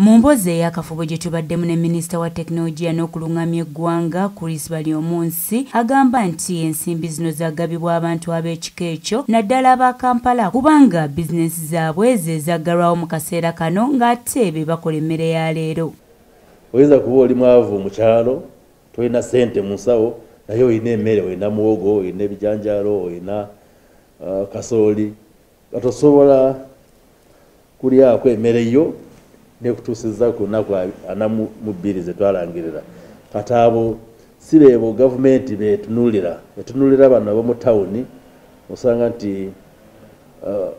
Mu mboozi ey'akafubo gye tubaddemu ne minisita wa tekinologiya n'okulung'amya eggwanga, Chris Baryomunsi agamba nti ensimbi zino zagabibwa abantu ab'ekika ekyo naddala aba Kampala kubanga bizinensi zaabwe ze zaggalwawo mu kaseera kano ng'ate be bakola emmere ya leero. Oyinza kuba oli mwavu mu kyalo, tolina ssente mu nsawo naye olina emmere, olina muwogo, olina ebijanjaalo, olina uh, kasooli nga tosobola kulyako emere yo nekutuusiza ku lunaku ana mu bbiri zetwalangirira kati abo si beebo gavumenti betunulira etunulira bano abomu tawuni osanga nti uh,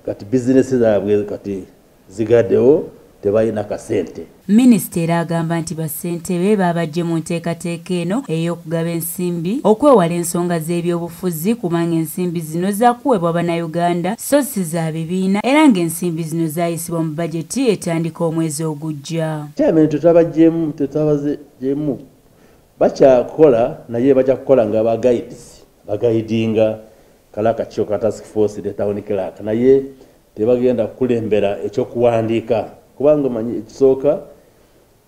kati bizinesi zaabwe kati zigadewo tebalina kasente. Minisita era agamba nti bassentebe baabajje mu nteekateeka eno ey'okugaba ensimbi okwewala ensonga z'ebyobufuzi kubanga ensimbi zino zaakuweebwa Bannayuganda so si za bibiina era ng'ensimbi zino zaayisibwa mu bajeti etandika omwezi ogujja. Chairman tetwabajjeemu tetwabazeemu bakyakola naye bajja kukola nga ba guides bagayidinga kale akakiiko ka task force ne town clerk naye tebagenda kukulembera ekyokuwandiika kubanga manyi ekisooka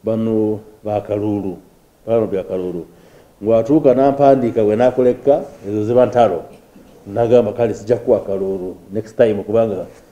bano bakaluulu bano byakaluulu ngwatuuka nampandiika bwe nakolekka ezo ziba ntalo nagamba kale sijja kuwa kaluulu next time kubanga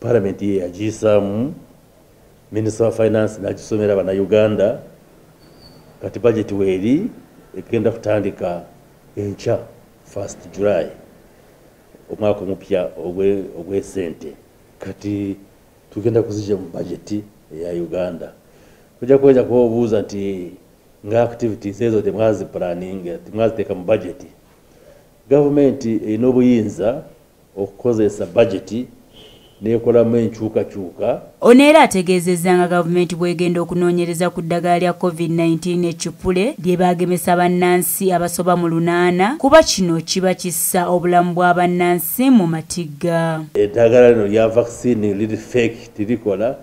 palamenti ye yagiyisaamu minisita wa finance n'agisomera bannayuganda kati bajeti weeri egenda kutandika enkya first july omwaka omupya ogw'esente kati tugenda kuzija mu bajeti eya uganda ojja kuweza kuba obuuza nti nga activities ezo temwazipulaninga temwaziteeka mu bajeti gavumenti erina obuyinza okukozesa bajeti n'ekolamu enkyukakyuka. Ono era ategeezezza nga gavumenti bw'egenda okunoonyereza ku ddagala lya COVID-19 ekippule lye baagemesa bannansi abasoba mu lunaana kuba kino kiba kissa obulamu bwa bannansi mu matigga. Eddagala lino lya vaccine liri fake tirikola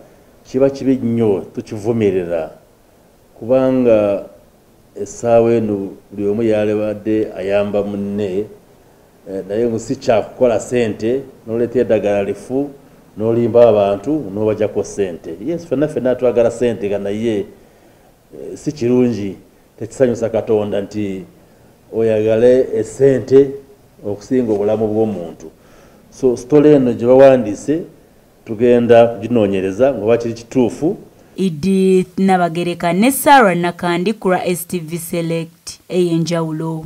kiba kibi nnyo tukivumirira kubanga essaawa eno buli omu yalibadde ayamba munne Eh, naye mbu si kyakukola sente noleeta edagala lifu nolimba abantu nobajako sente yes fenna fenna twagala sente nga naye eh, si kirungi tekisanyusa katonda nti oyagale esente okusinga obulamu bwomuntu so sitole eno gye bawandiise tugenda kuginoonyereza ngaoba kiri kituufu edith nabagereka ne sarah nakandi kura stv select eyenjawulo